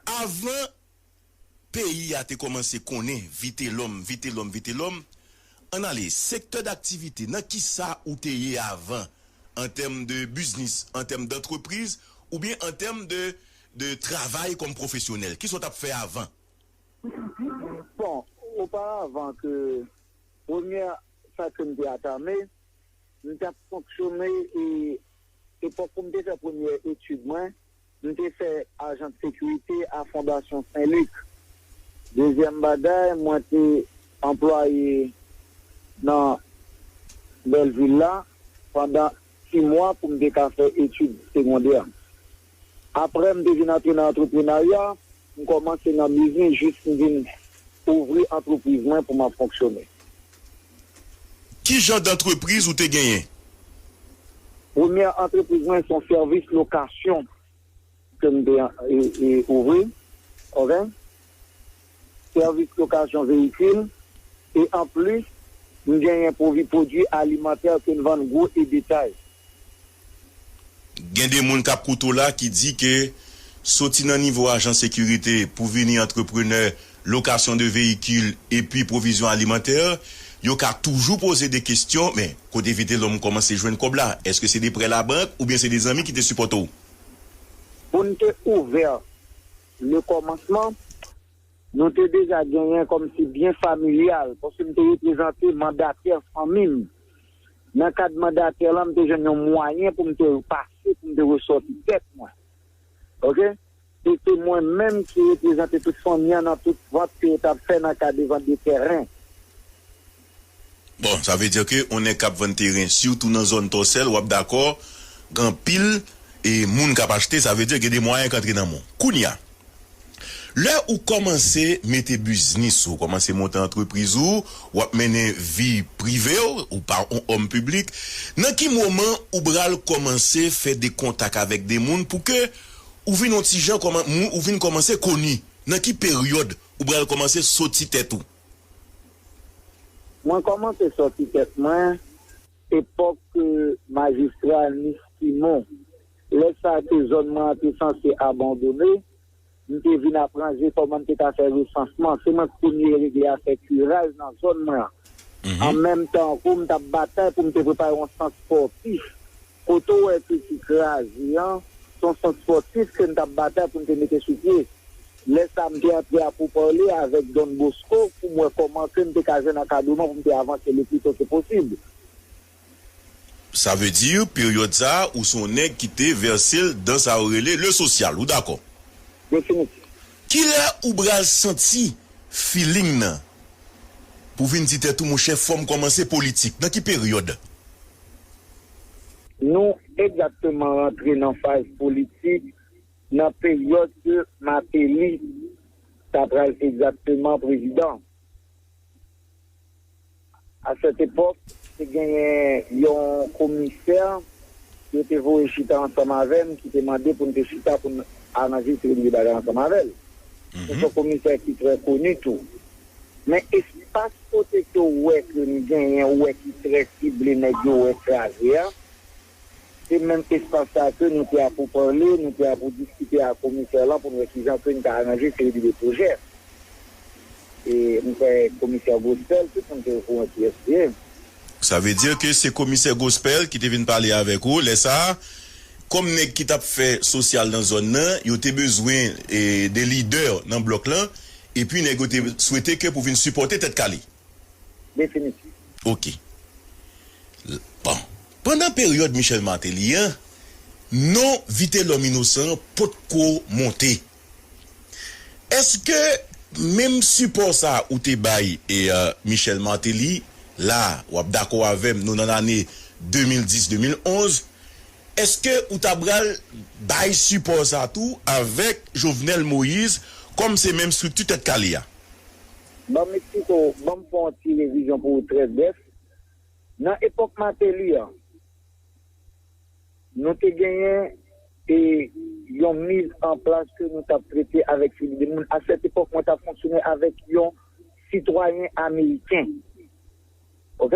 Avan peyi a te kòmanse konnen Vitelòm, Vitelòm, Vitelòm, ann ale, sektè daktivite, nan ki sa ou te ye avan an tèm de biznis, an tèm dantrepriz oubyen an tèm de de travay kòm pwofesyonèl? Ki sa w t ap fè avan? Bon, oparavan ke premyè sa ke m te atame, m t ap fonksyone e epòk pou m te fè premyè etid mwen, M te fè ajan de sekirite a Fondasyon Sen Lik. Dezyèm bagay, mwen te anplwaye nan Bèlvil la pandan ti mwa pou m te ka fè etid segondè. Aprè m te vin antre nan antreprenarya, m kòmanse nan biznis jis m vin ouvri antrepriz mwen pou m ap fonksyone. Ki jan dantrepriz ou te genyen? Premyè antrepriz mwen se yon sèvis lokasyon ke m te ouvri ok. Sèvis lokasyon veyikil e anplis m genyen pwodwi alimantè ke m vann gwo e detay. Gen de moun kap koute w la ki di ke soti nan nivo ajan sekirite pou vini antreprenè lokasyon de veyikil epi pwovizyon alimantè, yo ka toujou poze de kestyon, men kote Vitelhomme kòmanse jwenn kòb la? Eske se de prè labank oubyen se de zanmi ki te sipòte w? Pou n te ouvè le kòmansman, nou te deja genyen kòmsi byen familyal paske m te reprezante mandatè fanmi m. Nan kad mandatè lan, m te jwenn yon mwayen pou m te pase, pou m te resòti tèt mwen. Ok. E se mwen menm ki reprezante tout fanmi an nan tout vant ke yo t ap fè nan ka de vant de tèren. Bon, sa vle di ke yon nèg k ap vann teren, sitou nan zòn Tòsèl, w ap dakò gen anpil moun k ap achte, sa vle di gen de mwayen k antre nan men w. Kounya. Lè ou kòmanse mete biznis ou, kòmanse monte antrepriz ou, w ap mennen vi prive w, ou pa on òm piblik, nan ki moman ou bral kòmanse fè de kontak avèk de moun pou ke ou vin on ti jan kòman, moun ou vin kòmanse koni? Nan ki peryòd ou bral kòmanse soti tèt ou? Mwen kòmanse soti tèt mwen epòk majistra Nis Simon. Lè sa ke zòn mwen an te sanse abandone, m te vin ap ranje kòman m te ka fè resansman. Se mwen k premye regle afè kiraj nan zòn mwen an. An menm tan kou m t ap batay pou m te prepare yon sant spòtif. Kote w wè ke ki kraze an, se yon sant spòtif ke n t ap batay pou n te mete sou pye. Lè sa m te antre a pouparle avèk Don Bosco pou m wè kòman ke n te ka jwenn ankadreman pou m te avanse le pli to ke posib. Sa veut dire period sa ou se yon neg ki te verse l dan sa yo rele le social ou dakò? Definitif. Kilè ou bral santi feeling nan pou vin di tèt ou monchè fòm kòmanse politik? Nan ki period? Nou egzakteman rantre nan faz politik nan period ke Martelly ta pral egzakteman prezidan. A cette époque, te genyen yon komisè yo te voye chita ansanm avè m ki te mande pou n te chita pou n anrejistre li bagay ansanm avè l. Se t yon komisè ki trè koni tou. Men espas kote ke w wè ke m genyen wè ki trè sible nèg yo wè kraze a, Se menm espas sa ke nou te a pou pale, nou te a pou diskite ak komisè lan pou n wè ki jan ke n ka aranje seri de pwojè. E m kwè komisè Gospel, tout moun te o kouran ki yès li ye. Sa vle di ke se komisè Gospel ki te vin pale avèk ou lè sa a. Kòm nèg ki t ap fè sosyal nan zòn nan, yo te bezwen de lidè nan blòk lan, epi nèg yo te swete ke pou vin sipòte Tèt Kale. Definitif. Ok. L, Bon. Pandan peryòd Michel Martelly an, non Vitelòm Inosan an potko monte. Èske menm sipò sa a ou te bay Michel Martelly, la a, w ap dakò avè m, nou nan lane 2010, 2011, èske ou ta pral bay sipò sa a tou avèk Jovenel Moïse kòm se menm estrikti Tèt Kale a? Banm Mexico, banm fè yon ti revizyon pou ou trè brèf. Nan epòk Martelly an, nou te genyen yon miz an plas ke nou tap trete avèk Fidi de moun. A sèt epòk mwen tap fonksyone avèk yon sitwayen ameriken. Ok?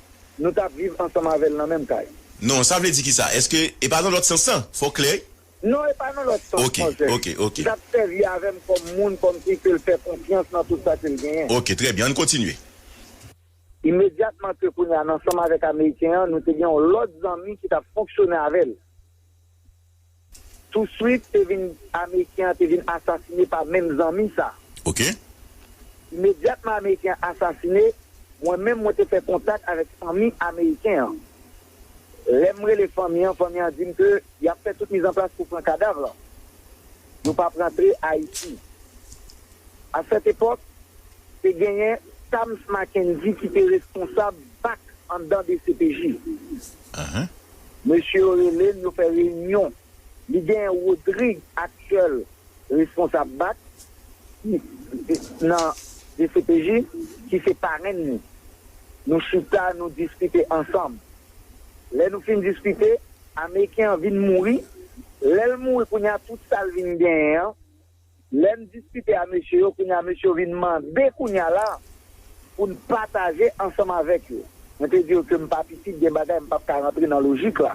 nou tap viv ansanm avèl nan menm kay. Non, sa vle di kisa? Eske e pa nan lòt sans lan? Fòw klè wi. Non, e pa nan lòt sans non sè. Ok, ok, ok. Li tap sèvi avèm kòm moun, kòm fi kel fè konfyans nan tout sa kel genyen. Ok, trè byen, ann kontinye. Imedyatman ke kounye a n ansanm avèk ameriken an, nou te gen yon lòt zanmi ki tap fonksyone avèl. Tou swit te vin ameriken an te vin asasine pa menm zanmi sa. Ok. Imedyatman ameriken an asasine, mwen menm mwen te fè kontak avèk fanmi ameriken an. Lè m rele fanmi an, fanmi an di m ke y ap fè tout mizanplas pou pran kadav lan. Yo p ap rantre Ayiti. A sèt epòk, te genyen Tams Mackendy ki te responsab bak anndan dcpj. Mesye yo rele l yo fè reyinyon. Li genyen Rodrigue aktyèl responsab bac ki nan dcpj ki se parenn li. Nou chita nou diskite ansanm. Lè nou fin diskite, ameriken an vin mouri. Lè l mouri kounye a tout sa l vin genyen an. Lèm diskite a mesye yo kounya mesye yo vin mande kounya la poun pataje ansanm avèk yo. Mwen te di yo kem pa pitit gen bagay mpap ka rantre nan lojik la.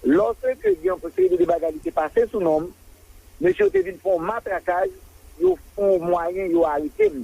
Lòske gen yon seri de bagay li te pase sou nonm, mesye yo te vin fon matrakaj yo fon mwayen yo aretem.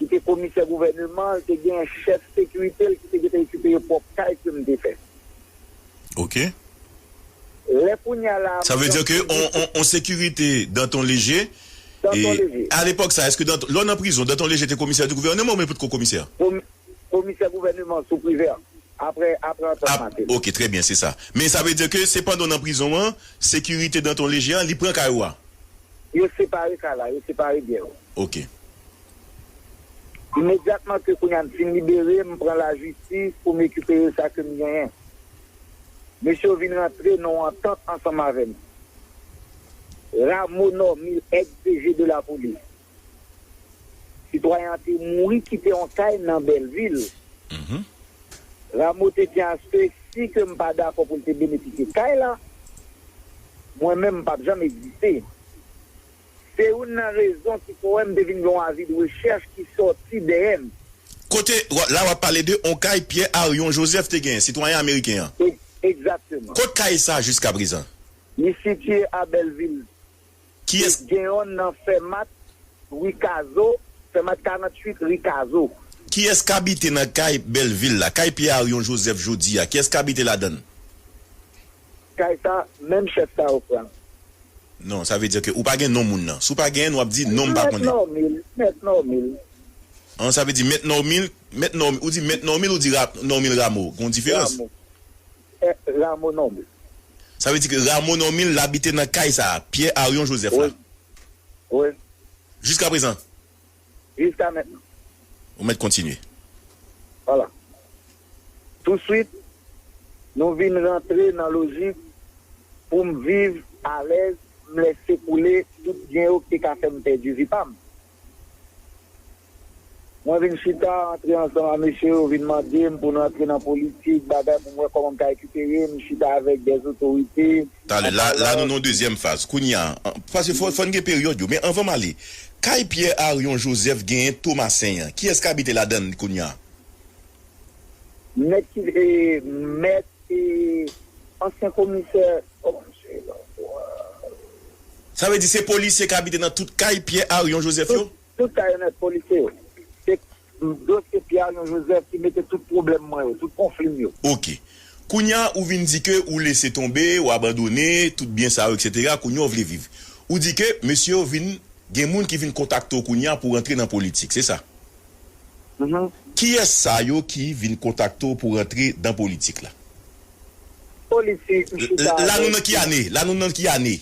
ki te komisè gouvèneman an, te gen chèf sekirite l ki te gentan ekipeye pwòp kay ke m te fè. Ok. Lè kounye a la a. Sa vle di ke yon sekirite Danton Leje. Danton Leje. A lepòk sa a, èske Danton, lè w nan prizon, Danton Leje te komisè di gouvèneman oubyen li potko komisè? Komisè gouvèneman sou Privert, apre antant Martelly. Ok, trè byen, se sa. Men sa vle di ke se pandan w nan prizon an, sekirite Danton Leje a, li pran kay ou a? Yo separe ka la, yo separe byen yo. Ok. Imedyatman ke kounye a m fin libere, m pran lajistis pou m rekipere sa ke m genyen. Mesye yo vin rantre nan yon antant ansanm avè m. Rameau Normil, ex DG de la Police. Sitwayen an te mouri kite yon kay nan Bèlvil. Rameau te di aske si ke m pa dakò pou l te benefisye kay la, Mwen menm m pap janm egziste. Se youn nan rezon ki kouwè m te vin gen yon avid rechèch ki sòti dèyè m. Kote, la w ap pale de yon kay Pyè Aryon Jozèf te genyen, sitwayen ameriken an? Egzakteman. Kot kay sa a jiskaprezan? Li sitiye a Bèlvil. E gen yonn nan Fèmat, Ri Kazo, Fèmat 48, Ri Kazo. Kiyès k abite nan kay Bèlvil la, kay Pyè Aryon Jozèf jodi a? Kiyès k abite ladan l? Kay sa menm chèf sa yo pranl. Non sa vle di ke ou pa gen non moun nan. Si w pa genyen n wap di non m pa Mèt konnen. Normil, mèt Normil. An sa vle di mèt Normil, mèt Normil, ou di mèt Normil ou di ra, Normil Rameau, gon diferans. Rameau. Eh Rameau Normil. Sa vle di ke Rameau Normil l abite nan kay sa a, Pierre Arion Joseph la. Wi. Wi. Jiska prezan. jiska mentnan. Ou mèt kontinye. Vwala. Touswit, nou vin rantre nan lojik pou m viv alèz, m lèse koule tout byen yo k te ka fè m pèdi vi pa m. Mwen vin chita, antre ansanm a mesye yo vin mande m pou n rantre nan politik, bagay pou m wè kòman m ka rekipere, m chita avèk dèzotorite. Talè, la, la nou nan yon dezyèm faz. Kounye a, pase fò, fò n gen peryòd yo. Men anvan m ale, kay Pyè, Aryon, Jozèf genyen Tomasen an. Kiyès k abite ladan l kounye a? Mèt ki, e, mèt, e, ansyen komisè. Sa vle di se polisye k abite nan tout kay Pyè, Aryon, Jozèf yo? Tout kay yo mèt, polisye yo. Se. Dosye Pierre Arion Joseph ki mete tout pwoblèm mwen yo, tout konfli m yo. Ok. Kounya ou vin di ke ou lese tonbe, ou abandone tout byen sa yo etc. Kounya ou vle viv. Ou di ke mesye yo vin gen moun ki vin kontakte w kounya pou rantre nan politik, se sa? Mph. Kiyès sa yo ki vin kontakte w pou rantre dan politik la? Politik, m chita avèk. La nou nan ki ane? La nou nan ki ane?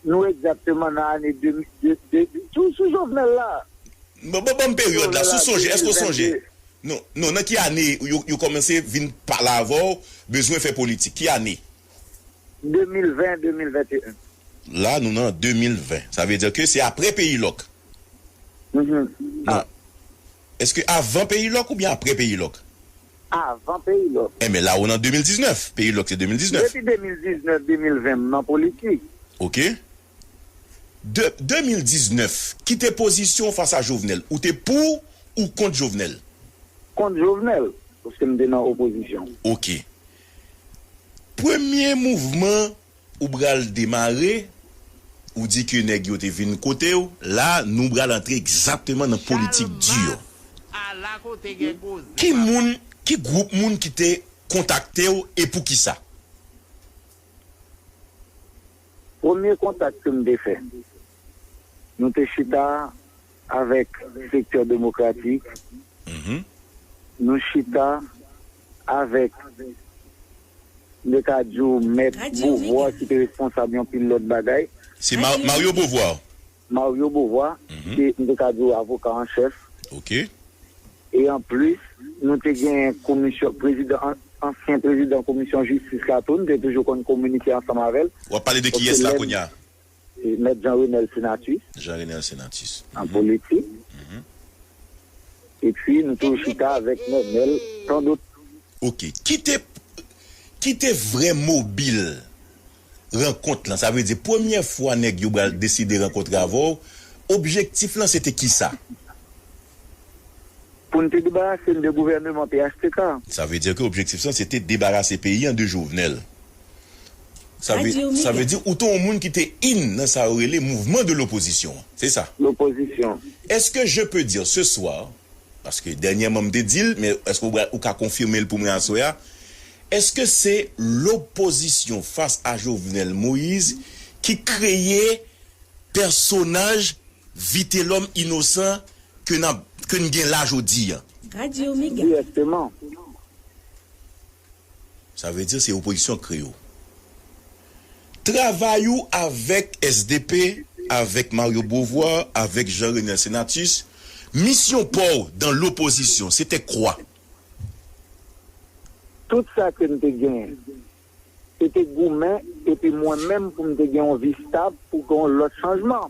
Nou egzakteman nan ane 2022. Sou Jovenel la. Ban m peryòd la. Si w sonje, èske w sonje? Non, non. Nan ki ane yo kòmanse vin pale avè w, bezwen fè politik? Ki ane? 2020, 2021. La nou nan 2020. Sa vle di ke se apre Peyi Lòk. Non. Èske avan Peyi Lòk oubyen apre Peyi Lòk? avan Peyilòk. Enben la ou nan 2019. Peyilòk se 2019. Depi 2019, 2020 m nan politik. Ok. De 2019, ki te pozisyon w fas a Jovenel? Ou te pou ou kont Jovenel? Kont Jovenel, paske m te nan opozisyon. Ok. Premye mouvman. Ou pral demare, ou di ke nèg yo te vin kote w, la nou pral antre egzakteman nan politik di yo. Chalmas, A la kote gen koze, Ki papa. moun, ki gwoup moun ki te kontakte w e poukisa? Premye kontak ke m te fè, nou te chita avèk sektè demokratik, nou chita. avèk, mwen ka di w, Mèt Beauvoir ki te responsab yon pil lòt bagay. Se Mario Beauvoir? Mario Beauvoir, se, m te ka di w, avoka an chèf. Ok. E an plis, nou te genyen komisyon, prezidan, ansyen prezidan komisyon jistis la tou, n te toujou konn kominike ansanm avè l. W ap pale de kiyès la kounye a? Mèt Jean Renel Senatus. Jean Renel Senatus. An politik. Epi nou toujou chita avèk Nenel tant d'autres. Ok. Ki te Ki te vrè mobil rankont lan? Sa vle di premyè fwa nèg yo bal deside rankontre avè w, objektif lan se te kisa? Pou n te debarase n de gouvèneman phtk. Sa vle di ke objektif lan se te debarase peyi an de Jovenel. Sa vle di ou te yon moun ki te in nan sa yo rele mouvman de lopozisyon an, se sa? Lopozisyon. Eske je pe di se soir, paske dènyèman m te di l, men eske ou ka konfime l pou mwen aswè a, eske se lopozisyon fas a Jovenel Moise ki kreye pèsonaj Vitelòm inosan ke n gen la jodi a? Dirèkteman. Sa vle di se opozisyon k kreye w. Travay ou avèk sdp, avèk Mario Beauvoir, avèk Jean Renel Senatus, misyon pa w dan lopozisyon, se te kwa? Tout sa ke m te genyen, se te goumen epi mwen menm pou m te gen yon vi stab pou gen yon lòt chanjman.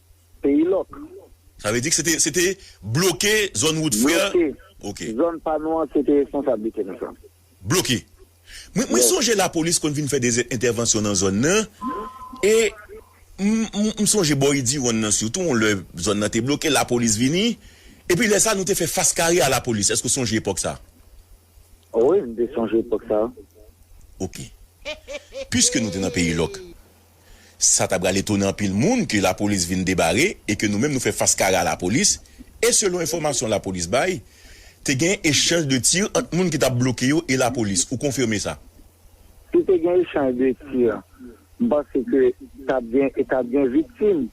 Peyi lòk. Sa vle di k se te se te bloke zòn wout frè. Bloke. Ok. Zòn pa nou an se te responsablite nou sa. Bloke. Mwen mwen Yes. sonje lapolis konn vin fè des entèvansyon nan zòn nan e m m sonje bò Idiwonn nan sitou yon lè zòn nan te bloke lapolis vini epi lè sa nou te fè fas kare a lapolis. Èske w sonje epòk sa? O wi m te sonje epok sa. Ok. Puiske nou te nan peyi lòk, sa ta pral etone anpil moun ke lapolis vin debare e ke nou menm nou fè fas kare a lapolis e selon enfòmasyon lapolis bay, te gen echanj de tir ant moun ki tap bloke yo e lapolis. Ou konfime sa? Si te gen echanj de tir, m panse ke tap gen e tap gen viktim.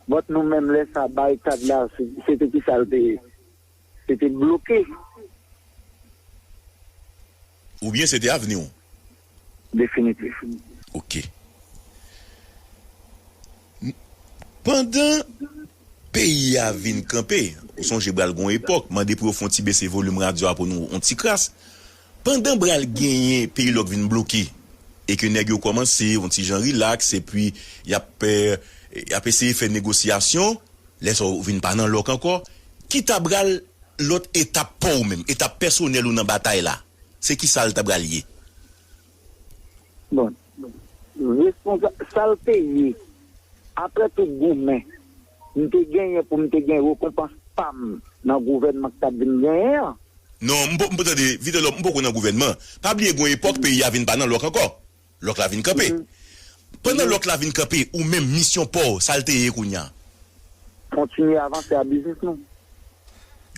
But nou menm lè sa, baryikad la, se te kisa l te ye? Se te bloke. Oubyen se te avni w? Definitif. Ok. Pandan peyi a vin kanpe, ou sonje bral gon epòk, mande pou yo fon ti bese volim radyo a pou nou on ti kras. Pandan bra l genyen peyi lòk vin bloke e ke nèg yo kòmanse yon ti jan rilaks epi y ap y ap eseye fè negosyasyon, lè sa a ou vin pa nan lòk ankò, ki ta bral lòt etap pa w menm, etap pèsonèl ou nan batay la? Se kisa l ta bral ye? Bon, Responsa, Sal te ye, aprè tout goumen m te genyen pou m te gen rekonpans pa m nan gouvènman k t ap vin genyen an. Non, m po, tande, Vitelòm, m poko nan gouvènman. Pa bliye gen yon epòk peyi a vin pa nan lòk ankò. Lòk la vin kanpe. Pandan lòk la vin kanpe, ou menm, misyon pa w, sa l te ye kounye a? Kontinye avanse a biznis nou.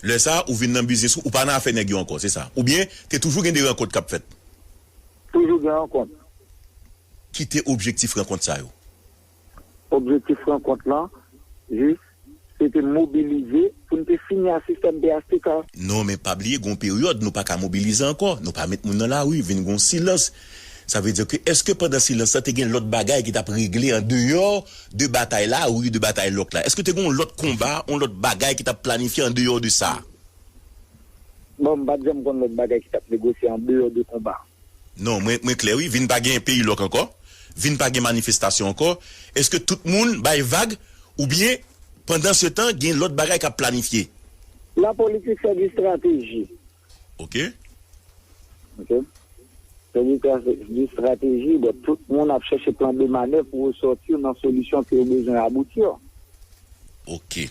Lè sa a, ou vin nan biznis ou, ou pa nan afè nèg yo ankò, se sa? Oubyen, te toujou gen de rankont k ap fèt? Toujou gen rankont. Ki te objektif rankont sa yo? Objektif rankont lan jis se te mobilize pou n te fini a sistèm phtk. Non men pa bliye gen yon peryòd nou pa ka mobilize ankò, nou pa met moun nan lari, vin gen yon silans. Sa vle di ke èske pandan silans lan te gen lòt bagay ki t ap regle an deyò de batay la ou de batay lòk la? Èske te gen yon lòt konba, yon lòt bagay ki t ap planifye an deyò de sa? Bon, m pa t janm konn lòt bagay ki t ap negosye an deyò de konba. Non, mwen mwen klè wi, vin pa gen peyi lòk ankò, vin pa gen manifestasyon ankò, èske tout moun bay vag oubyen pandan se tan gen lòt bagay k ap planifye? La politik se di strateji. Ok. Ok. Se di tra se di strateji, donk tout moun ap chèche plan de manèv pou yo sòti nan solisyon ke yo bezwen abouti yo. Ok.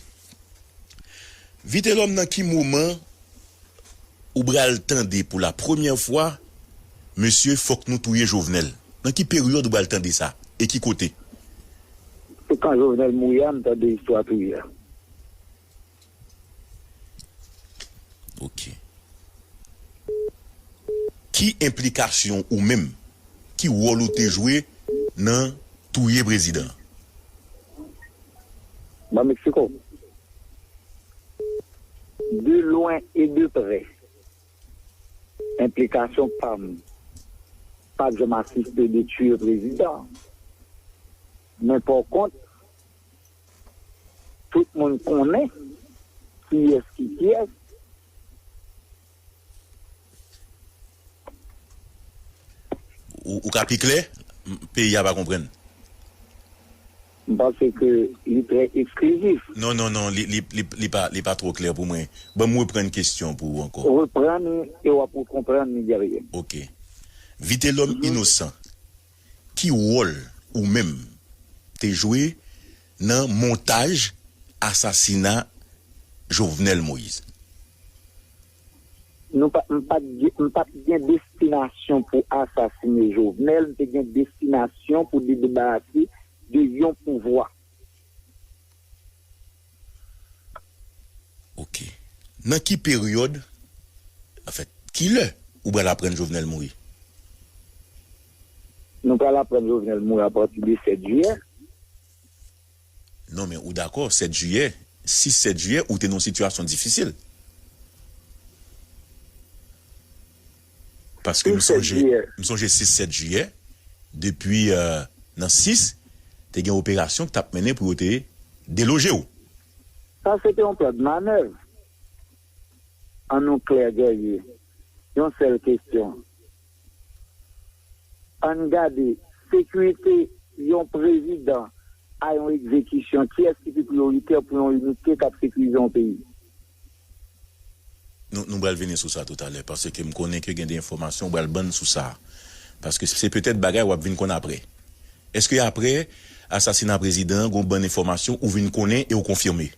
Vitelòm nan ki moman ou bral tande pou la premyè fwa mesye fòk nou touye jovenel nan ki peryòd ou bal tande sa e ki kote. Se kan jovenel mouri a m tande istwa touye a. Ok. Ki enplikasyon ou menm? Ki wòl ou te jwe nan touye prezidan? Nan Mexico, de lwen e de prè, enplikasyon pam pat janm asiste de tuye prezidan, men pòkont, tout moun konnen kiyès ki kiyès. Ou ka pi klè? Peyi a pa konprann. M panse ke li trè eksklizif. Non, non, non, li pa twò klè pou mwen. Ban m reprann kesyon pou ou ankò. Reprann li e w ap rekonprann li, Guerrier. Ok. Vitelòm Inosan, ki wòl ou menm te jwe nan montaj asasina Jovenel Moïse? Nou pa, m pa t gen, m pa t gen destinasyon pou asasine Jovenel, m te gen destinasyon pou debarase de yon pouvwa. Ok. Nan ki peryòd, anfèt, ki lè ou pral aprann Jovenel mouri? Nou pral aprann Jovenel mouri apati de 7 jiyè. Non men ou dakò 7 jiyè, 6 7 jiyè ou te nan yon sitiyasyon difisil. Paske m sonje, m sonje 6 7 jiyè, depi nan 6, te gen operasyon ki t ap mennen pou yo te deloje w. Sa se te yon plan de manèv. An nou klè Guerrier, yon sèl kesyon. Ann gade, sekirite yon prezidan a yon ekzekisyon, kiyès ki pi priyoritè pou yon inite k ap sekirize yon peyi? Nou, nou pral vini sou sa toutalè, paske m konnen ke gen de enfòmasyon ou pral ban n sou sa. Paske se petèt bagay w ap vin konn aprè. Èske aprè asasina prezidan an gen yon bann enfòmasyon ou vin konnen e ou konfime?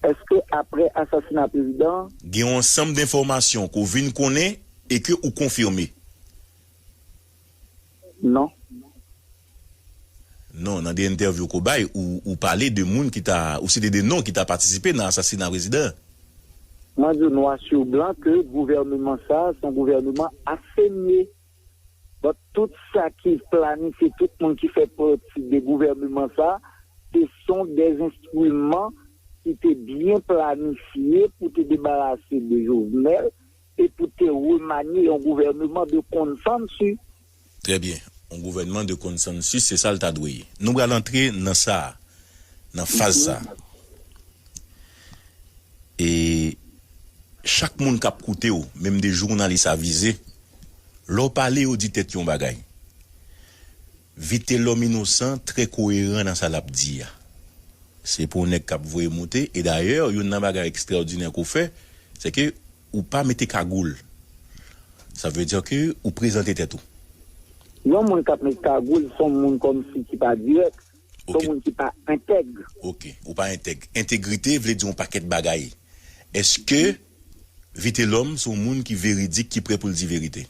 Eske apre asasina prezidan an. Gen yon ansanm denfòmasyon ke w vin konnen e ke ou konfime? Non. Non, nan de entèvyou ke w bay, ou pale de moun ki ta, ou site de non ki ta patisipe nan asasina prezidan an. Mwen di w nwa su blan ke gouvèneman sa a se yon gouvèneman asemye. But tout sa ki planifye tout moun ki fè pati de gouvèneman sa se son des instrument ki te byen planifye pou te debarase de Jovenel e pou te remanye yon gouvèneman de consensus. Trè byen. Yon gouvèneman de consensus se sa l ta dwe ye. Nou pral antre nan sa a, nan faz sa a. E chak moun kap koute w, menm 2 jounalis avize, lè w pale yo di tèt yon bagay. Vitelòm inosan trè koyeran nan sa lap di a. Se pou w nèg kap voye moute e dayè youn nan bagay ekstraòdinè ke w fè, se ke ou pa mete kagoul. Sa vle di ke ou prezante tèt ou. Yon moun kap met kagoul son moun kòmsi ki pa dirèk. Ok. Son moun ki pa entèg. Ok. Ou pa entèg. Entegrite vle di yon pakèt bagay. Eske Vitelòm se yon moun ki veridik, ki prè pou l di verite?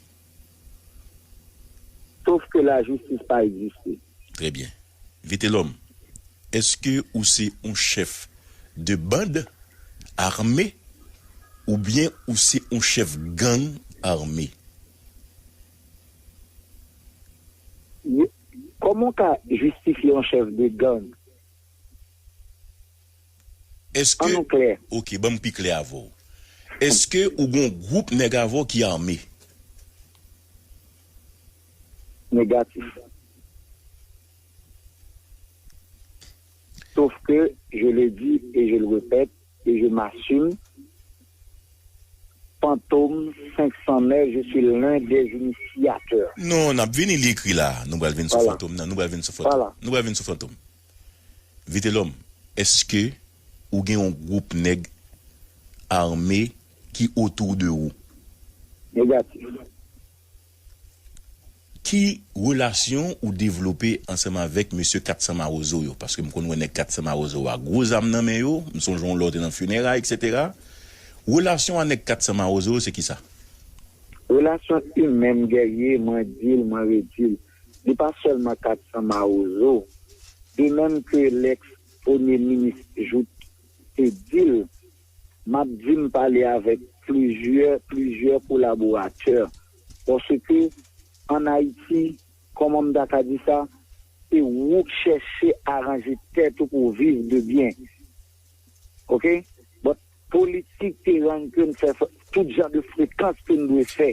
Sof ke lajistis pa egziste. Trè byen. Vitelòm, eske ou se yon chèf de band ame oubyen ou se yon chèf gang ame? Kòman w ka jistifye yon chèf de gang? An nou klè. Ok, ban m pi klè avè w. Eske ou gen yon gwoup nèg avè w ki ame? Negatif. Sof ke, je le di e je le repèt. Et je m'assume, Fantom 509 je suis l'un des initiateurs. Non, n ap vini, li ekri la a. Nou pral vin sou Fantom nan, nou pral vin sou Fantom, nou pral vin sou Fantom. Vitelòm, èske ou gen yon gwoup nèg arme ki otou de ou? Negatif. Ki relasyon ou devlope ansanm avèk mesye 400 mawozo yo? Paske m konn wè nèg 400 mawozo yo a gwo zam nan men yo, m sonje yon lè w te nan fineray eksetera. Relasyon w a nèg 400 mawozo yo se kisa? Relasyon imen m gèye, mwen di l, mwen redi l, li pa sèlman 400 mawozo. De menm ke lèks premye minis Jouthe te di l. M ap di m pale avèk plizyè, plizyè kolaboratè. Paske, ann Ayiti, kòman m ta ka di sa, se wou k chèche aranje tèt ou pou w viv de byen. Ok? But, politik te rann ke n fè tout jan de frekans ke n dwe fè.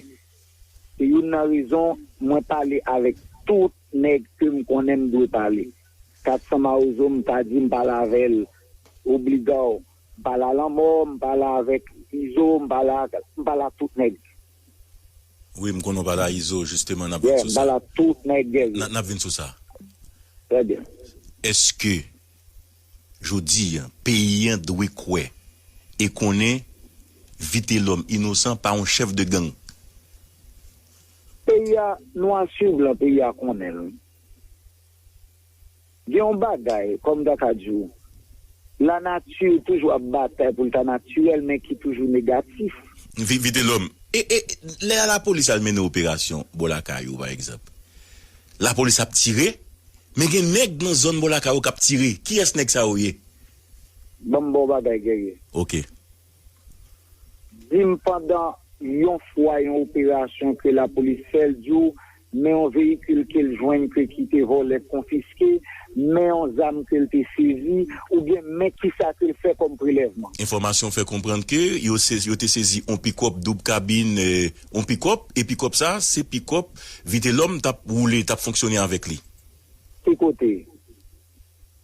Se youn nan rezon mwen pale avèk tout nèg ke m konnen m dwe pale. 400 mawozo m pa di m pale avè l obligaw. M pa la lanmò, m pa la avèk izo, m pa la ak, m pa la tout nèg. Wi, m konnen w pa la izo, jisteman n ap vin sou sa. Yeah, m pa la tout nèg. N ap vin sou sa. Trè byen. Èske jodi an, peyi an dwe kwè e konnen Vitelòm Inosan pa yon chèf de gang? Peyi a, nwa sur blan, peyi a konnen l. Gen yon bagay, kòm ta ka di w, lanati toujou ap batay pou l ta natirèl men ki toujou negatif. Vi Vitelòm. E e lè a lapolis al mennen operasyon bò lakay ou pa egzanp. Lapolis ap tire, men gen nèg nan zòn bò lakay ou k ap tire. Kiyès nèg sa yo ye? Ban m ba w bagay, Guerrier. Oke. Di m pandan yon fwa yon operasyon ke lapolis fè l di w men yon veyikil ke l jwenn ke ki te vòlè konfiske, men yon zam ke l te sezi oubyen men kisa ke l fè kòm prelèvman. Enfòmasyon fè konprann ke yo sezi yo te sezi yon pikòp doub kabin, yon pikòp e pikòp sa se pikòp Vitelhomme tap woule, tap fonksyone avèk li. Ki kote?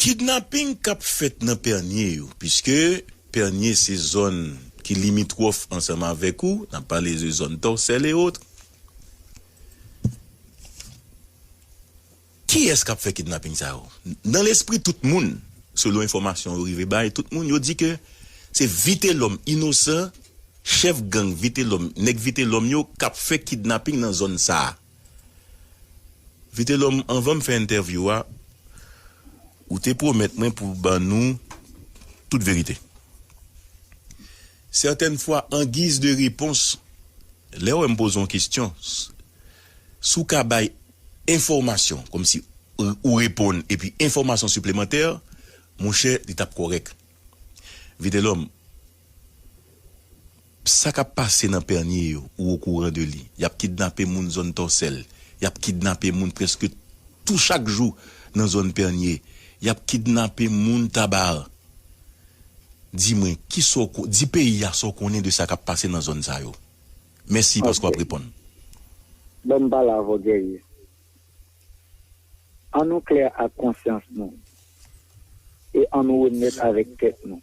Kidnaping kap fèt nan Pènye yo, piske Pènye se zòn ki limitwòf ansanm avèk ou, n ap pale de zòn Tòsèl e otre. Kiyès kap fè kidnaping sa yo? Nan lespri tout moun, selon enfòmasyon yo rive bay tout moun, yo di ke se Vitelòm Inosan, chèf gang Vitelòm, nèg Vitelòm yo kap fè kidnaping nan zòn sa. Vitelom anvanm fè entèvyou a ou te pwomèt mwen pou ban nou tout verite. Sètèn fwa an giz de repons lèw wèm poze yon kesyon si w ka bay enfòmasyon kòm si ou reponn epi enfòmasyon siplemantè monchè li tap kòrèk. Vitelom. Sa kap pase nan Pernier yo ou okouran de li? Yap kidnape moun zòn Tòsèl, yap kidnape moun prèske tou chak jou nan zòn Pernier, yap kidnape moun Tabarre. Di mwen kisa w ko, di peyi a sa w konnen de sa kap pase nan zòn sa yo. Mèsi paske wap reponn. Bon m pale avè w Guerrier. An nou klè ak konsyans nou e an nou onèt avèk tèt nou.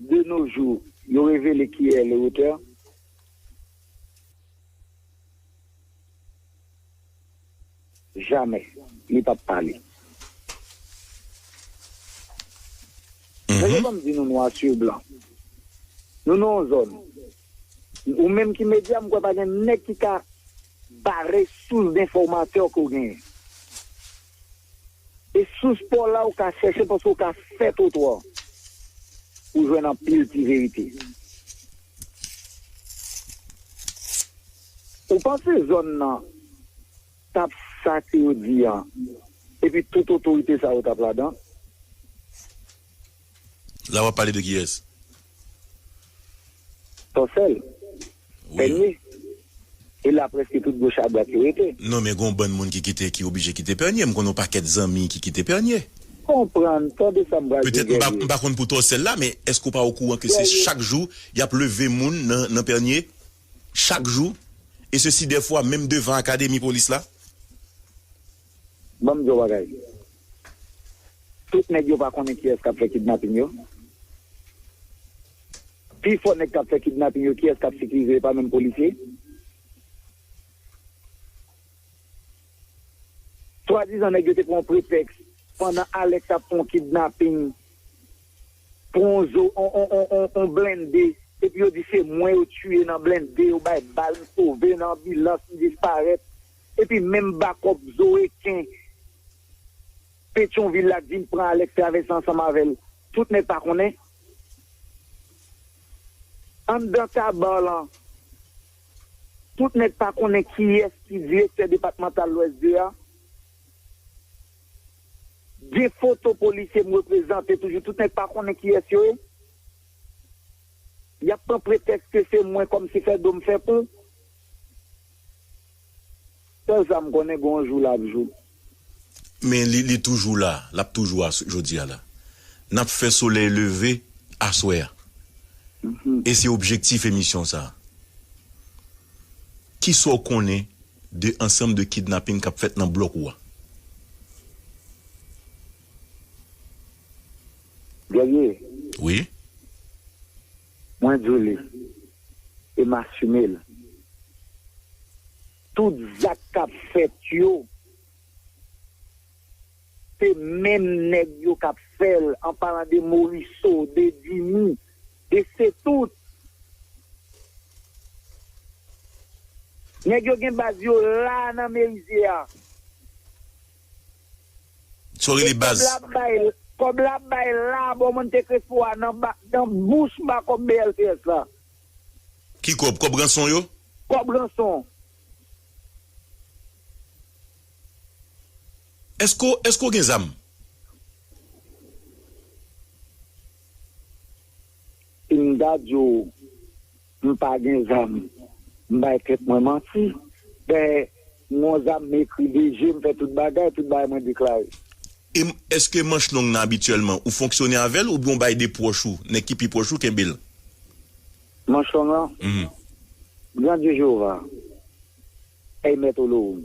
De nos jours, yo revele ki è le auteur. Jamais li pap pale. Mesye banm di nou nwa sur blan. Nou nan yon zòn. Ou menm ki media m kwè pa gen nèg ki ka bare sous denfòmatè ke w genyen. E sous paw la ou ka chèche paske ou ka fè twotwa pou jwenn anpil ti verite. Ou panse zòn nan tap sa ke yo di an epi tout otorite sa yo tap ladan? La wap pale de kiyes? Ton sel? Pènye? E la preske tout goch a dwat yo rete. Non men gon bann moun ki kite ki oblije kite pènye, m konnen yon pakèt zanmi ki kite pènye. Konprann, tande sa m pral di w Guerrier. Petèt m pa konn pou Tòsèl la men èske w pa okouran ke se chak jou y ap leve moun nan pènye? Chak jou? E sesi dèfwa menm devan akademi polis la? Banm di w bagay. Tout nèg yo pa konnen kiyès kap fè kidnaping yo. Pi fò nèg kap fè kidnaping yo kiyès kap sikirize yo pa menm polisye. Swadizan nèg yo te pran yon pretèks pandan Alex ap fè yon kidnaping pou yon zo yon blende epi yo di se mwen yo tiye nan blende yo bay bal m sove nan anbilans m disparèt. Epi menm bakòp Zoe Ken Petyonvil la t vin pran Alex travèse ansanm avèl tout nèg pa konnen anndan Tabar lan tout nèg pa konnen kiyès ki direktè depatmantal lwès 2 a gen foto polisye m reprezante toujou tout nèg pa konnen kiyès yo ye yap pran pretèks ke se mwen kòmsi fè do m fè kou. Sèl sa m konnen gon jou l ap jou. Men li li toujou la, l ap toujou a jodi a la. N ap fè solèy leve aswè a. E se objektif emisyon sa a. Ki sa w konnen de ansanm de kidnaping k ap fèt nan blòk ou a? Guerrier. Wi. Mwen di w li. E m asime l. Tout zak k ap fèt yo, se menm nèg yo k ap fè l, an palan de Moriso, de Dimi, de Setout. Nèg yo gen baz yo la nan Merizier a. Saw rele baz. Kob la ap bay la bon monte crespo a nan nan bouch ba kob BLTS la. Ki kob, kob ranson yo? Kob ranson. Eske w eske w gen zam? Sim ta di w. M pa gen zam M bay tèt mwen manti Dèyè m gon zam M ekri de je M fè tout bagay Tout bagay mwen deklare. E èske manch long nan abityèlman ou fonksyone avè l oubyen w bay de pwòch ou, nèg ki pi pwòch ou kenbe l? Manch long lan? Gran Dye Jewova, Èy Mèt Olowoum!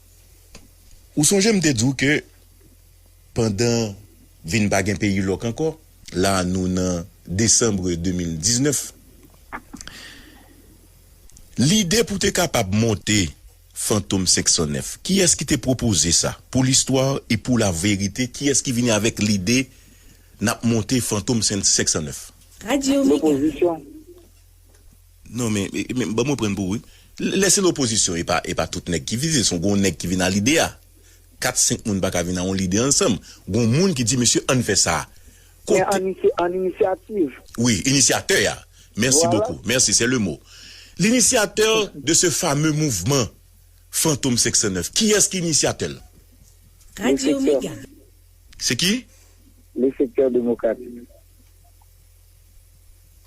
Ou sonje m te di w ke pandan vin pa gen peyi lòk ankò, la a nou nan desanbre 2019, lide pou te kapab monte Fantom 509, kiyès ki te pwopoze sa? Pou listwa e pou laverite, kiyès ki vini avèk lide n ap monte Fantom 509? Radyo Mega. Lopozisyon. Non men men banm reprann pou ou wi. Lè se lopozisyon epa epa tout nèg ki vize son gon nèg ki vin a lide a 4 5 moun paka vin a yon lide ansanm gon moun ki di mesye ann fè sa Men an misye an inisyativ. Wi inisyatè a mèsi bokou mèsi sè le mo linisyatè de se fame mouvman fantom 509 kiyès ki inisyatè l? Radyo mega. Se ki? Le sektè demokratik.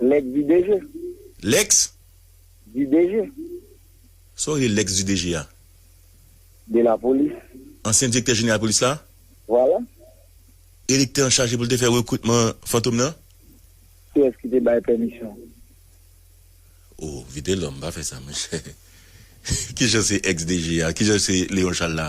Lèks di deje. Lèks. Di deje. Sa w rele lèks di deje a? De lapolis. Ansyen direktè jeneral polis la? Vwala. Elektè an chaje pou l te fè rekritman fantom nan? Kiyès ki te bay pèmisyon? O, Vitelòm, pa fè sa monchè. Kijan se èks deje a? Kijan se Leon Chal la?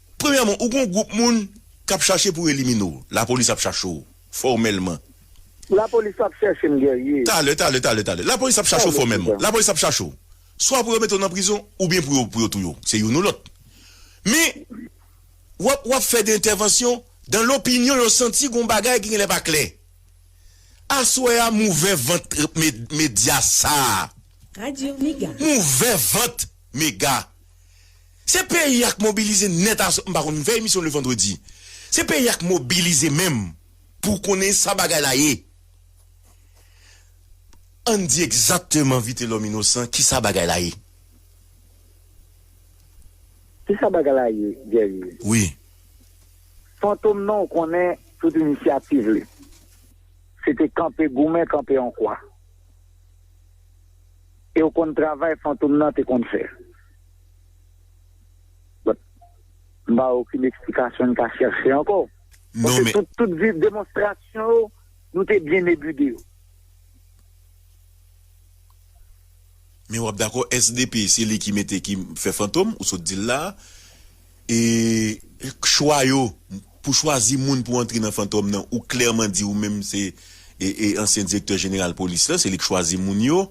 Premyèman, ou gon gwoup moun k ap chache pou elimine w. Lapolis ap chache w fòmèlman. Lapolis pa ap chèche m, Guerrier. Talè, talè, talè, talè. Lapolis ap chache w fòmèlman. Lapolis ap chache w. Swa pou yo mete w nan prizon oubyen pou yo pou yo touye w. Se youn ou lòt. Men, w ap w ap fè de entèvansyon dan lopinyon yo santi gon bagay ki genlè pa klè. Aswè a m ouvè vant medya sa a. Radio Mega. M ouvè vant Mega. Se peyi a k mobilize nèt a m pa konn m fè emisyon le vendredi se peyi a k mobilize menm pou w konnen sa bagay la ye an n di egzakteman vitelòm inosan kisa bagay la ye. Kisa bagay la ye Guerrier? Wi. Fantom nan w konnen tout inisyativ li se te kanpe goumen kanpe an kwa e w konn travay fantom nan te konn fè. M pa wè okenn eksplikasyon n ka chèche ankò. Paske tout demonstrasyon yo, nou te byen ebide yo. Men w ap dakò SDP se li ki mete ki fè Fantom ou sot di l la a. E chwa yo pou chwazi moun pou antre nan Fantom nan ou klèman di ou menm se ansyen direktè jeneral polis la se li k chwazi moun yo.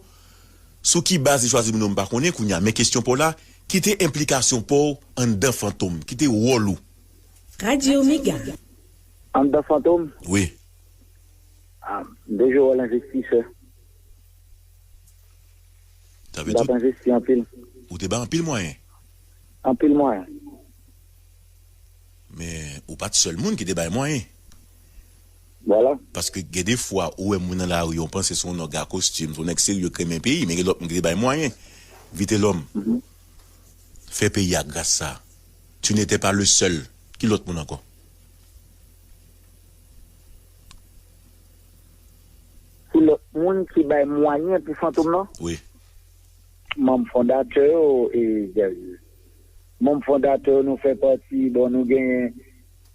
Sou ki baz li chwazi moun an m pa konnen kounya men kesyon paw la ki te enplikasyon paw anndan fantom? Ki te wòl ou? Radio Mega. Anndan fantom? Wi. Ah m te jwe wòl envestisè. Sa vle M tap tout? envesti anpil. Ou te bay anpil mwayen? Anpil mwayen. Men ou pat sèl moun ki te bay mwayen. Vwala. Paske gen de fwa ou wè moun nan lari yon panse son nòg a kostim son nèg serye k renmen peyi men gen lòt moun ki te bay mwayen vitelòm fè peyi a gras sa tu ne tè pa le sèl ki lòt moun ankò. Ki lòt moun ki bay mwayen pou fantom nan? Wi. Manm fondatè yo e zèv yo. Manm fondatè yo nou fè pati bon nou genyen.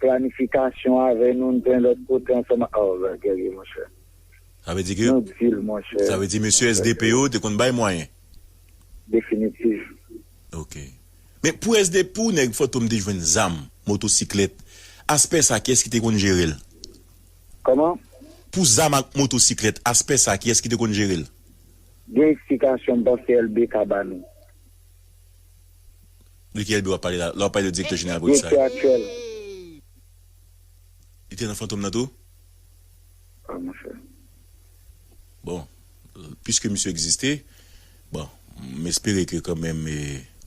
Planification avè nou n plen lòt kote ansanm ak oh bagay serye monchè Sa vle di ke Nou dil monchè Sa vle di mesye SDP yo te konn bay mwayen. Definitiv. Ok. Men pou SD pou nèg Fantom te jwenn zam, motosiklèt, aspè sa kiyès ki te konn jere l? Kòman? Pou zam ak motosiklèt, aspè sa kiyès ki te konn jere l? Gen eksplikasyon m panse LB ka ba nou. De ki Elbe wap pale la? La wap pale de direktè jeneral polis la. Direktè aktyèl. Li te nan Fantom nan tou? Ah monchè. Bon, pwiske misye egziste, bon, m espere ke kanmenm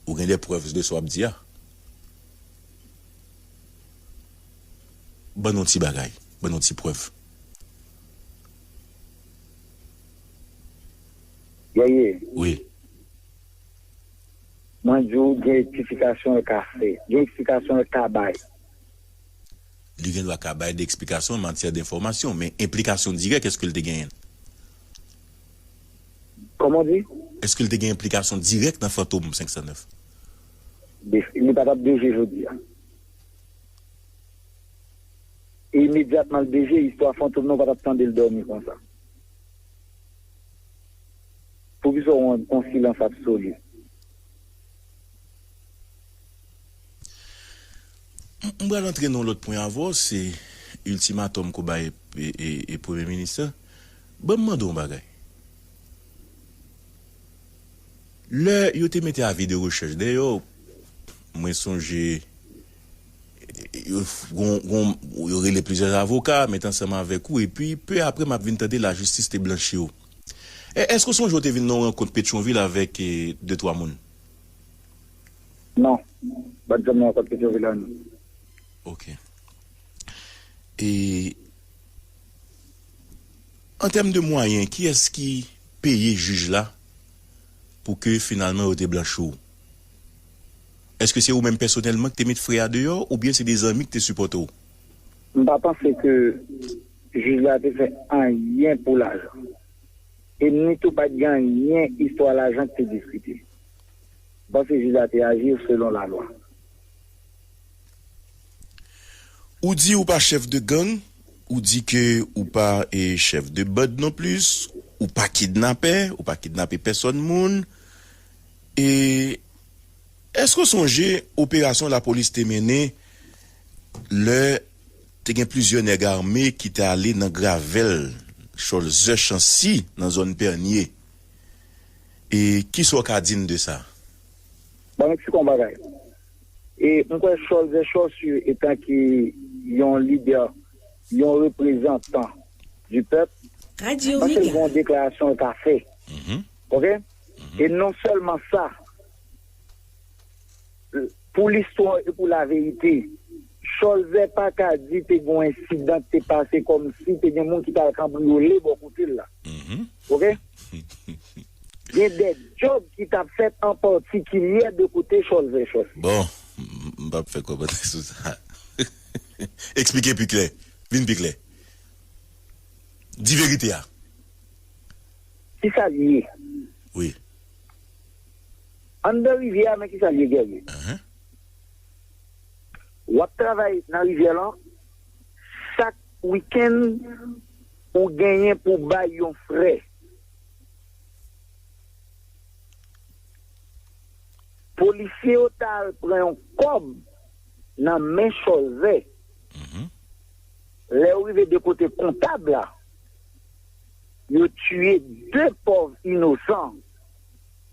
ou gen de prèv de sa wap di a. Ban nou ti bagay, ban nou ti prèv. Guerrier. Wi. Mwen di w gen ektifikasyon l ka fè. Gen eksplikasyon l ka bay. Li gen dwa ka bay de eksplikasyon an matyè de enfòmasyon. Men enplikasyon dirèk èske l te genyen l? Kòman w di? Èske l te gen enplikasyon dirèk nan Fantom 509? Li pa t ap deje jodi a. E imedyatman l deje, istwa Fantom nan ou pa t ap tande l dòmi konsa. Pou kisa w an on silans absoli? M pral antre nan yon lòt pwen avè w, se iltimatòm ke w bay Premye Minis la. Ban m mande w yon bagay. Lè yo te mete avi de rechèch dèyè w, mwen sonje yo rele plizyè avoka met ansanm avèk ou epi pe apre m ap vin tande lajistis te blanchi w. E, èske ou sonje ou te vin nan yon rankont Petyon-Vil avèk de twa moun? Non. M pa t janm nan rankont Petyon-Vil la, non. Ok. E, an tèm de mwayen, kiyès ki peye jij la pou ke finalman yo te blanchi w? Èske se ou menm pèsonèlman ki te met frè a deyò oubyen se de zanmi ki te sipòte w? M pa panse ke. Jij la te fè anyen pou lajan. E ni tou pa t gen anyen istwa lajan ki te diskite. M panse jij la te aji selon lalwa. Ou di ou pa chef de gang, ou di ke ou pa chef de band non plis, ou pa kidnapè, ou pa kidnape pèsòn moun. E eske w sonje operasyon lapolis te mennen lè. Te gen plizyè nèg ame ki te ale nan gravèl Cholzè Chancy nan zòn Pènye. E ki sa w ka di n de sa? Banm eksplike w yon bagay. E m kwè Cholzè Chòsy etan ke yon lidè, yon reprezantan di pèp, panse l gen yon deklarasyon l ka fè. Ok? E non sèlman sa. Pou listwa e pou laverite, Cholzè pa ka di te gen yon ensidan ki te pase kòm si te gen moun ki t al kanbriyole bò kote l la. Ok. Gen dè djòb ki t ap fèt an patikilyè de kote Cholzè chòf. Bon, m p ap fè kòmantè sou sa. Eksplike pi klè. Vin pi klè. Di verite a. Ki sa l ye? Wi. Anndan rivyè a men kisa l ye Guerrier. Ou ap travay nan rivyè lan, chak wikenn ou genyen pou w bay yon frè Polisye yo ta al pran yon kòb nan men chòzè Lè yo rive de kote kontab la, yo tiye de pòv inosan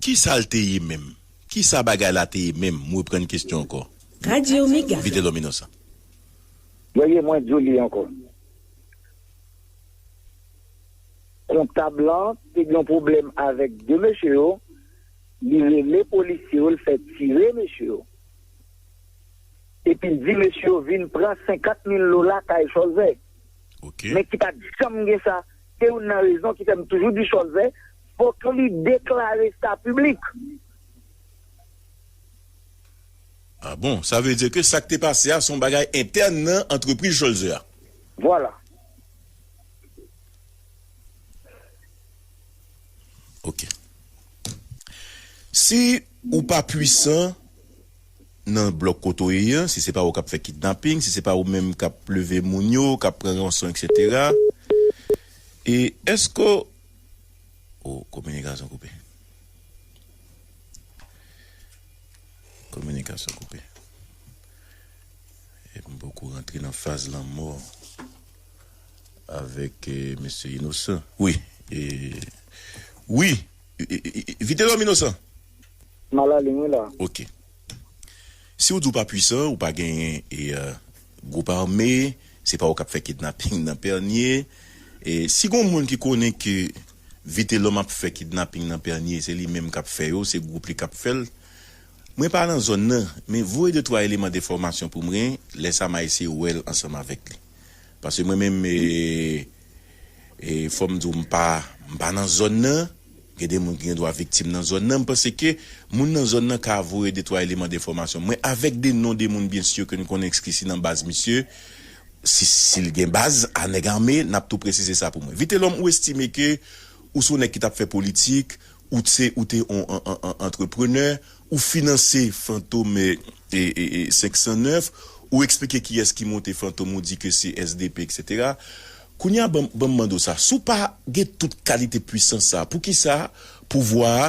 Kisa l te ye menm? Kisa bagay la te ye menm? M reprann kesyon ankò. Radio Mega. Vitelòm Inosan. Yo ye mwen di w li ankò. Kontab lan te gen yon pwoblèm avèk 2 mesye yo, li rele polisye yo l fè tire mesye yo. Epi l di mesye yo vin pran 50 mil dola kay Chòlzè. Ok. Men ki pat janm gen sa. Se youn nan rezon ki fè m toujou di Chòlzè. Fok li deklare sa piblik. Ah bon, sa vle di ke sak te pase a son bagay entèn nan antrepriz Cholzer a. Vwala. Ok. Si ou pa pwisan nan blòk kote ou ye an, si se pa ou kap fè kidnaping, si se pa ou menm kap leve moun yo, kap pran ranson etc. E eske ou. Oh kominikasyon koupe. Kominikasyon koupe. E m poko rantre nan faz lanmò avèk mesye Inosan. Wi e Wi Vitelòm Inosan. M alalin wi la. Ok. Si w di w pa pwisan, ou pa genyen e. Gwoup ame, se pa ou kap fè kidnaping nan Pernye, e si gon moun ki konnen ke Vitelòm ap fè kidnaping nan Pernye se li menm kap fè yo, se gwoup li kap fèl, mwen pa nan zòn nan, men voye de twa eleman de fòmasyon pou mwen, lè sa ma eseye wèl ansanm avèk li. Pase mwen menm e. fòm di w m pa m pa nan zòn nan gen de moun ki gen dwa viktim nan zòn nan m panse ke moun nan zòn nan ka voye de twa eleman de enfòmasyon mwen avèk de non de moun byen si ke n konnen ki si nan baz misye si si l gen baz a nèg ame n ap tou presize sa pou mwen vitelòm ou estime ke ou se w nèg ki t ap fè politik ou t se ou te on antreprenè. Ou finanse fantome 509 ou eksplike kiyès ki monte fantom ou di ke se sdp etc kounye a banm mande w sa si w pa gen tout kalite pwisans sa poukisa pouvwa a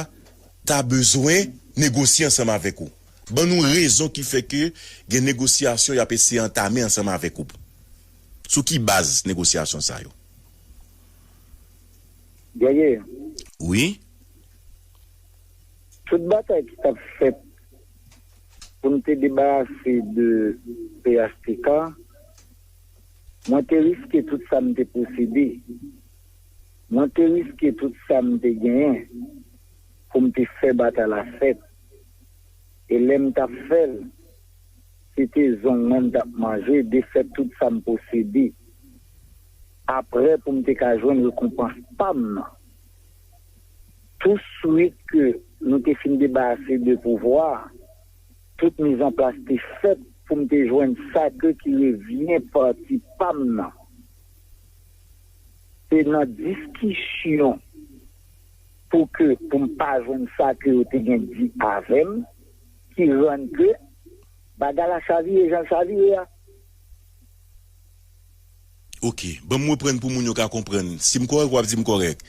ta bezwen negosye ansanm avèk ou ban nou rezon ki fè ke gen negosyasyon yap eseye antame ansanm avèk ou sou ki baz negosyasyon sa yo. Guerrier. Wi. Tout batay ki tap fèt pou n te debarase de phtk, mwen te riske tout sa m te posede, mwen te riske tout sa m te genyen pou m te fè batay la fèt. E lè m tap fè l, se te zong mwen m tap manje, defèt tout sa m posede, aprè pou m te ka jwenn rekonpans pa m nan. Tou swit ke nou te fin debarase de pouvwa, tout mizanplas te fèt pou m te jwenn sa ke ki revyen pati pa m nan. Se nan diskisyon pou ke pou m pa jwenn sa ke yo te gen di avè m ki rann ke bagay la chavire jan l chavire a. Ok, banm reprann pou moun yo ka konprann, si m kòrèk wap di m kòrèk.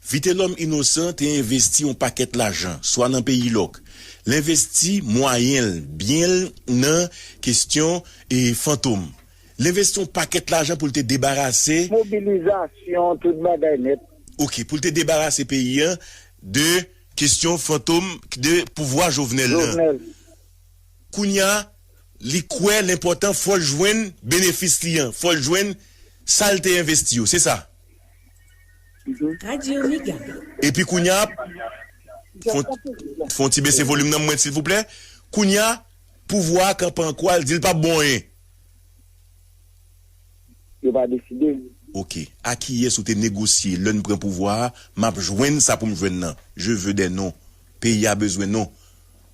Vitelòm Inosan te envesti yon pakèt lajan, swa nan peyi lòk, l envesti mwayen l, byen l nan kestyon e fantom. L envesti yon pakèt lajan pou l te debarase. Mobilizasyon, tout bagay nèt. Ok, pou l te debarase peyi an de kestyon fantom, de pouvwa Jovenel lan. Jovenel. Kounya, Li kwè l enpòtan fò l jwenn benefis li an, fò l jwenn sa l te envesti yo, se sa? Epi kounya, fon ti bese volim nan mwen silvouplè, kounya pouvwa a kanpe an kwa l di l pap bon anyen? Yo pa deside. Ok, a kiyès ou te negosye lè n pran pouvwa a, map jwenn sa pou m jwenn nan, je veux des noms, peyi a bezwen non.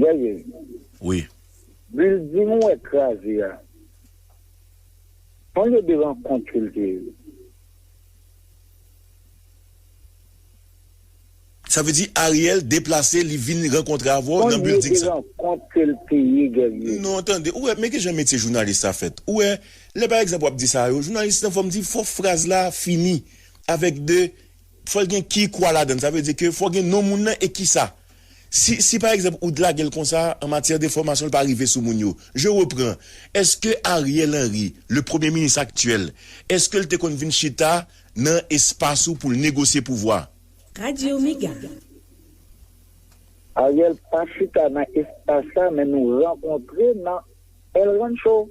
Gèye. Wi. Bilding ou wè kraze a, sonje de rankont ke l te. Sa vle di Ariel deplase li vin rankontre avè w nan bilding sa. Sonje de rankont ke l te ye, Gèye. Non, tande, ou wè, men ki jan metye jounalis sa fèt. Ou wè, lè pa egzanp w ap di sa yo, jounalis lan fò m di fò fraz la fini avèk de. Fòl gen ki kwa ladann sa vle di ke fò gen non moun nan e kisa si si pa egzanp ou t lagel konsa an matyè de fòmasyon l pa rive sou moun yo je repran eske Ariel Henry le premye minis aktyèl eske l te konn vin chita nan espas ou pou l negosye pouvwa. Radio Mega. Ariel pa chita nan espas sa men nou rankontre nan El Rancho.